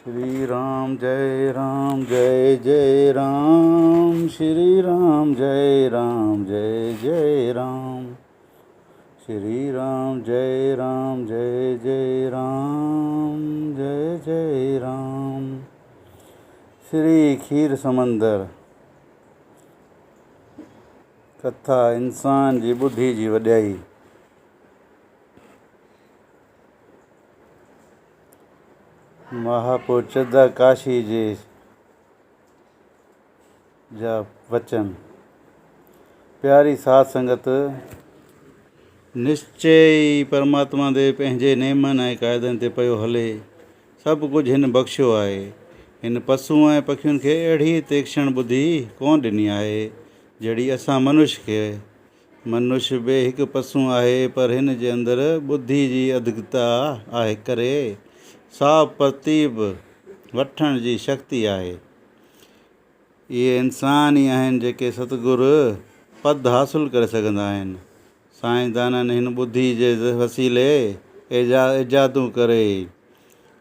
شري رام جئي رام جئي جئي رام شري رام جئي رام جئي جئي رام شري رام جئي رام جئي جئي رام جئي جئي رام شري کير سمندر ڪٿا انسان جي ٻڌي جي وڏيائي. مهاپوچدا ڪاشي جي جا وچن، پياري ساڌ سنگت نشچي ئي پرماتما دي پنهنجي نيمن ۽ قاعدن تي پيو هلي، سڀ ڪجهه هن بخشيو آهي. هن پسون ۽ پکين کي اهڙي تيڪشڻ ٻڌي ڪونه ڏني آهي، جهڙي اسان منش کي منش به هڪ پسون آهي، پر هن جي اندر ٻڌي جي اڌڪتا آهي ڪري صاف پرتيب وٺڻ جي شڪتي آهي. اهي انسان ئي آهن جيڪي ستگر پد حاصل ڪري سگهندا آهن. سائين دانن هن ٻڌي جي وسيلي ايجادون ڪري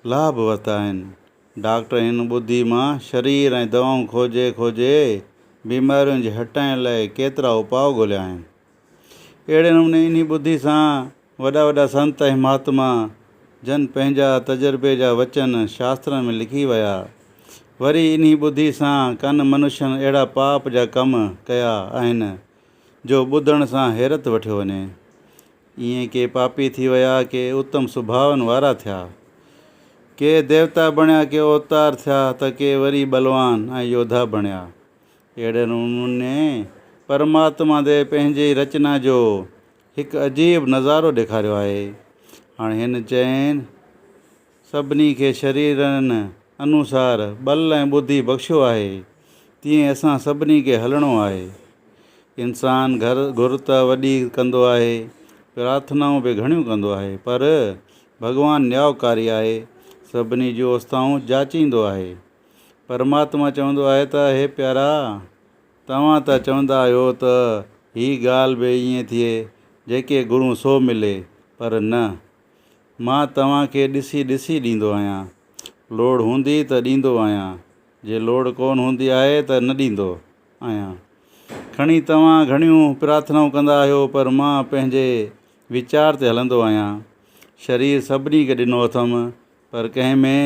لاڀ ورتا آهن. ڊاڪٽر هن ٻڌي مان شرير ۽ دوائون کوجي کوجي بيمارين جي هٽائڻ لاء ڪيترا اپاء ڳوليا آهن. اهڙي نموني انهي ٻڌي سان وڏا وڏا سنت ۽ مهاتما جن پنهنجا تجربي جا وچن شاسترن ۾ لکي ويا. وري انهي ٻڌي سان ڪن منشن اهڙا پاپ جا ڪم ڪيا آهن جو ٻڌڻ سان حيرت وٺيو وڃي. ائين ڪي پاپي ٿي ويا ڪي اتم سڀاون وارا ٿيا. ڪي ديوتا بڻيا ڪي اوتار ٿيا ته ڪي وري ٻلوان ۽ يوڌا بڻيا. اهڙي نموني پرماتما دي پنهنجي ئي رچنا جو هڪ عجيب نظارو ڏيکاريو آهي. هاڻ هن چئن سڀني کي شريرن انوسار ٻل ۽ ٻڌي بخشيو آهي، تيئن اسان سڀني کي هلڻو آهي. انسان گهر گهر ته وڏي ڪندو آهي، پرارٿنائون به گهڻيون ڪندو آهي، پر ڀڳوان نيائوڪاري آهي، سڀني جون اوستائون جاچيندو آهي. پرماتما چوندو آهي ته هي پيارا! توهان ته چوندا آهيو ته هي ڳالهه به ائين ٿئي، جيڪي گهرون سو ملي، پر نه، مان توهان کي ڏسي ڏسي ڏيندو آهيان. لوڙ هوندي ته ڏيندو آهيان، جي لوڙ ڪونه هوندي آهي ته نه ڏيندو آهيان. کڻي توهان گهڻيون پرارٿنائون ڪندا آهيو پر مان پنهنجي ويچار تي هلندو آهيان. شرير سڀني کي ڏنو اٿم پر ڪنهن ۾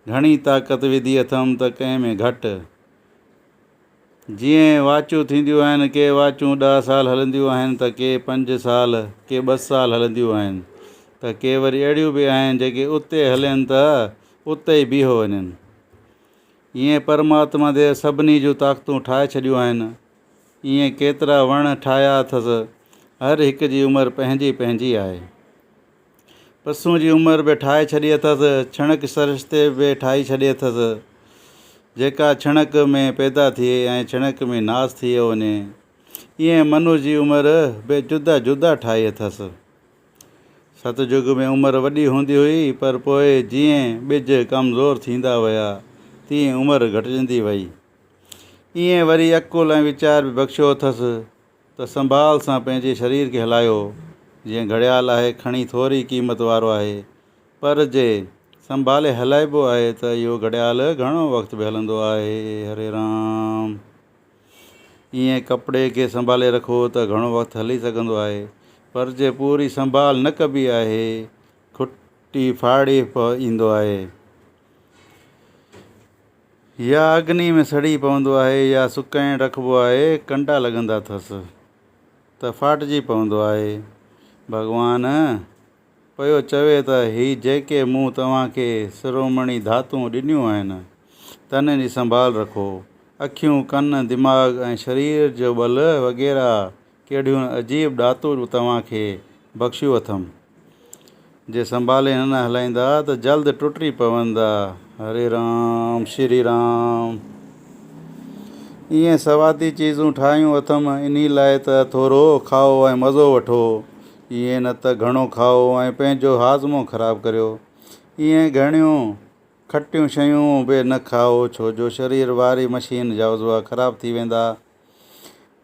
گهڻي طاقت وڌي اٿم ته ڪنهن ۾ گهٽ. جيئن واچون ٿينديون آهن، ڪي واچون ڏهه سال هلنديون آهن ته ڪي پنج سال، ڪي ٻه سال هلنديون آهن ته ڪي وري اهڙيون به آهن جيڪي اتي هلين ته اتي ئي بيهو وڃن. ايئن پرماتما ديو سڀني جون طاقتون ٺاهي ڇڏيون آهن. ايئن ڪيترا وڻ ٺاهيا اٿس. هر هڪ جي عمر پنهنجي پنهنجي آهي. پسون جي عمر به ٺاهي ڇڏي اٿس، ڇڻڪ سرشتي به ٺاهي ڇڏي اٿس، جيڪا ڇڻڪ ۾ پيدا ٿئي ۽ ڇڻڪ ۾ ناس ٿئي وڃي، ايئن منو جي عمر به جدا جدا ٺاهي اٿس. ست جڳ ۾ عمر وڏي هوندي هئي، پر پوء جيئن ٻج ڪمزور ٿيندا ويا، تيئن عمر گهٽجندي ويئي. ايئن وري عقل ۽ ويچار به بخشيو اٿس، ته سنڀال سان پنهنجي شرير کي هلايو، جيئن گهڙيال آهي کڻي ٿوري قيمت وارو آهي، پر جي سنڀالي هلائبو آهي ته اهو گهڙيال گهڻو وقت به هلندو آهي. هري رام. ايئن ڪپڙي کي سنڀالي رکو ته گهڻو وقت هلي سگهندو آهي، پر جي پوري سنڀال نه ڪبي آهي کٽي ڦاڙي پوندو آهي. يا اگني ۾ سڙي پوندو آهي يا سڪائڻ رکبو آهي، ڪنڊا لڳندا ٿس ته ڦاٽجي پوندو آهي. ڀڳوان پيو چوي ته هي جيڪي مون توهان کي سرومڻي ڌاتون ڏنيون آهن، تنهن جي سنڀال رکو. اکيون، ڪن، دماغ ۽ شرير جو ٻل وغيره ڪهڙيون عجيب ڏاتون توهان کي بخشيون اٿم. جي سنڀالي نه نه هلائيندا ته جلد ٽٽي پوندا. هري رام شري رام. ايئن سوادي چيزون ٺاهيون اٿم انهي لاء ته ٿورو کائو ۽ مزو وٺو. ايئن نه ته گهڻو کائو ۽ پنهنجو هاضمو خراب ڪريو. ايئن گهڻيون کٽيون شيون به نه کائو ڇو جو شرير واري مشين جا عضوا خراب ٿي ويندا.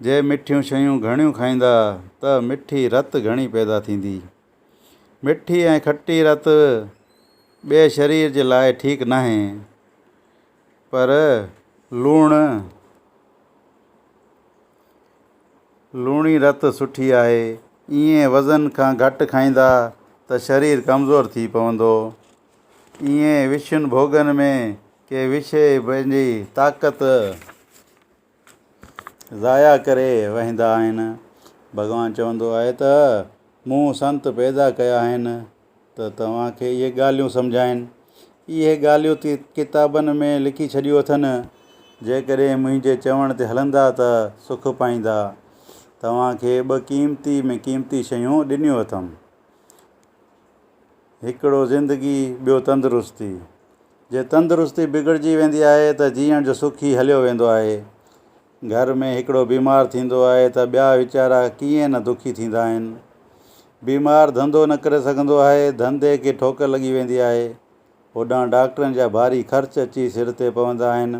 جي مٺيون شيون گهڻيون کائيندا ته مٺي رت گهڻي پيدا ٿيندي. مٺي ۽ کٽي رت ٻئي شرير جي لاء ٺيڪ ناهي پر لوڻ لوڻي رت سٺي آهي. ايئن وزن کان گهٽ کائيندا ته شرير ڪمزور ٿي پوندو. ايئن وشن ڀوڳن ۾ ڪي وشي پنهنجي طاقت. ضايع ڪري وهندا آهن. ڀڳوان چوندو آهي ته مون سنت پيدا ڪيا آهن ته توهان کي اهي ڳالهيون سمجهائين. اهي ڳالهيون تي ڪتابن ۾ لکي ڇڏيون اٿن. جيڪڏهن منهنجي چوڻ تي هلندا ته سک پائيندا. توهان کي ٻه قيمتي ۾ قيمتي شيون ڏنيون اٿم. هڪڙو زندگي ٻيو تندرستي جي تندرستي بگڙجي ويندي آهي ته جيئڻ جو سک ئي هليو ويندو آهي گهر ۾ هڪڙو بيمار ٿيندو آهي ته ٻيا ويچارا ڪيئن نه دکي ٿيندا آهن بيمار ڌنڌو نه ڪري سگهندو آهي ڌنڌي کي ٺوڪر لڳي ويندي آهي هوڏانهن ڊاڪٽرن جا ڀاري خرچ اچي سر تي پوندا آهن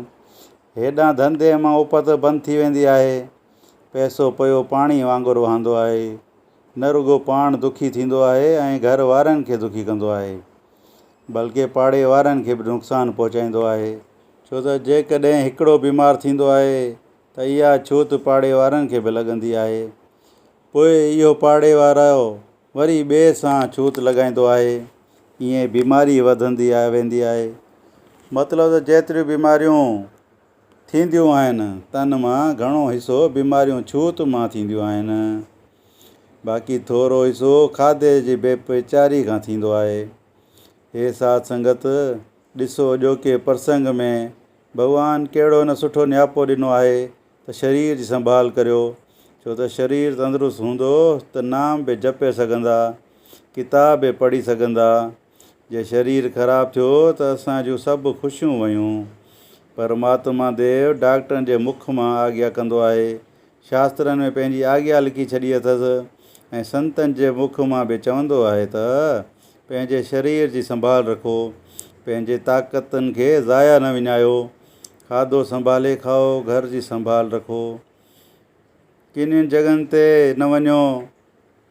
هيڏانهن ڌنڌي مان اپت بند ٿي ويندي آهي پئسو پيو پاڻي وانگر وهندو آهي نه رڳو پاڻ دکي ٿيندو آهي ۽ گهر وارن کي دکي ڪندو آهي بلڪه پاڙي وارن کي به نقصان پهچائيندو آهي ڇو ته جيڪڏهن هڪڙو بيمار ٿيندو آهي ته اها ڇوت پاڙي وارن کي به لڳندي آهي پوء اهو پاڙي وارو وري ٻئي سان ڇوت لڳائيندو آهي ائين بيماري وڌندي ويندي آهي مطلب ته جيتريون بيماريون ٿينديون آهن. تن مان گهڻو حصو بيماريون ڇوت مان ٿينديون آهن. باقي ٿورو حصو کاڌي جي بي پچاري کان ٿيندو آهي. هي ساڌ سنگت! ڏسو اڄوڪي پرسنگ ۾ ڀڳوان ڪهڙو نه سٺو نياپو ڏنو آهي ته شرير جي سنڀال ڪريو. ڇو ته شرير تندرست هوندو ته نام به جپي سگهندا، ڪتاب به پڙهي سگهندا، جي شرير خراب ٿيو ته اسان جون سڀ خوشيون ويون. پر مهاتما ديو ڊاڪٽرن جي مک مان آگيا ڪندو آهي. شاسترن ۾ پنهنجي آگيا لکي ڇڏي اٿس ۽ سنتن جي مک مان به چوندو آهي ته پنهنجي شرير جي سنڀال رکو. پنهنجي طاقتن کي ضايع نه وڃايو. کاڌو سنڀالي کائو، گهر جي سنڀال رکو. ڪنين جڳهن تي نه وڃو،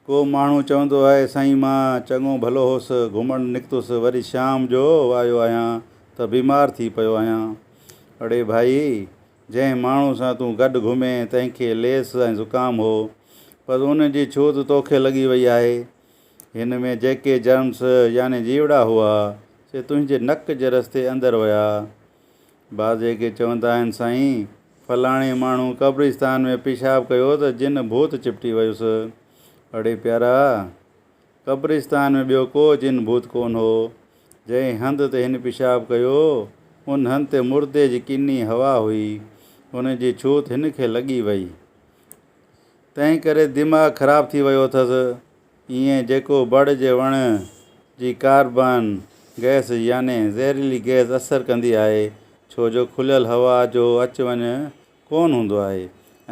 ڪو ماڻهو چوندو آهي، سائين مان چڱو ڀلو هوس، گهمڻ نڪتس، وري شام جو آيو آهيان ته بيمار ٿي پيو آهيان. اڙي ڀائي! جنهن ماڻهو سان تون گڏ گهمين، تنهن کي ليس ۽ زڪام هو، پر ان جي ڇوت توکي لڳي وئي آهي. هن ۾ جيڪي جرمس يعني جيوڙا هئا، سي تنهنجي نڪ جي رستي اندر ويا. بعض جيڪي چوندا آهن سائين فلاڻي ماڻهو قبرستان ۾ پيشاب ڪيو ته جن ڀوت چپٽي ويس. اڙي پيارا! قبرستان ۾ ٻيو ڪو جن ڀوت ڪون هو. جنهن هنڌ تي هن پيشاب ڪيو، ان هنڌ تي مردي جي ڪني هوا هئي. ان جي ڇوت هن کي لڳي وئي. تنهن ڪري دماغ خراب ٿي ويو اٿس. ايئن جيڪو بڙ جي وڻ جي ڪاربان گئس يعني زهريلي گئس اثر ڪندي آهي ڇو جو کليل هوا جو اچ وڃ ڪون هوندو آهي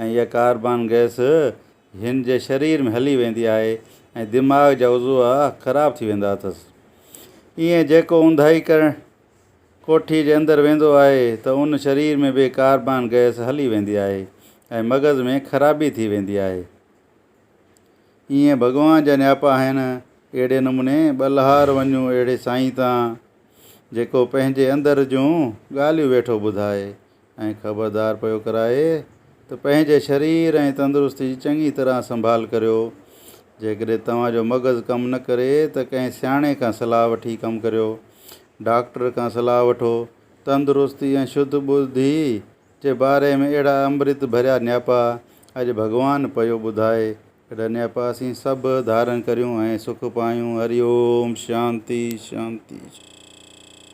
۽ اها ڪاربان گئس هن جي شرير ۾ هلي ويندي آهي ۽ دماغ جا عضوا خراب ٿي ويندا اٿس ايئن جيڪو اونداهي ڪرڻ ڪوٺي جي اندر ويندو آهي ته ان شرير ۾ به ڪاربان گئس هلي ويندي آهي ۽ مغز ۾ خرابي ٿي ويندي آهي. ايئن ڀڳوان جا نياپا آهن. اهڙي نموني ٻلهار وڃون اهڙي سائين تان، جيڪو پنهنجي اندر جون ڳالهيون ويٺو ٻڌائي ۽ خبردار پيو ڪرائي ته پنهنجي شرير ۽ تندرستي جي چڱي طرح سنڀال ڪريو. جيڪڏهن توهان جو مغز ڪم نه ڪري ته ڪنهن سياڻي کان صلاح وٺي ڪم ڪريو. ڊاڪٽر کان صلاح وٺو. تندرستي ۽ شڌ ٻڌي جي باري ۾ اهڙا امرت ڀريا نياپا اڄ ڀڳوان پيو ٻڌائي اهڙا نياپا اسين سڀ ڌارن ڪريون ۽ سک پايون هري اوم شانتي شانتي شانتي.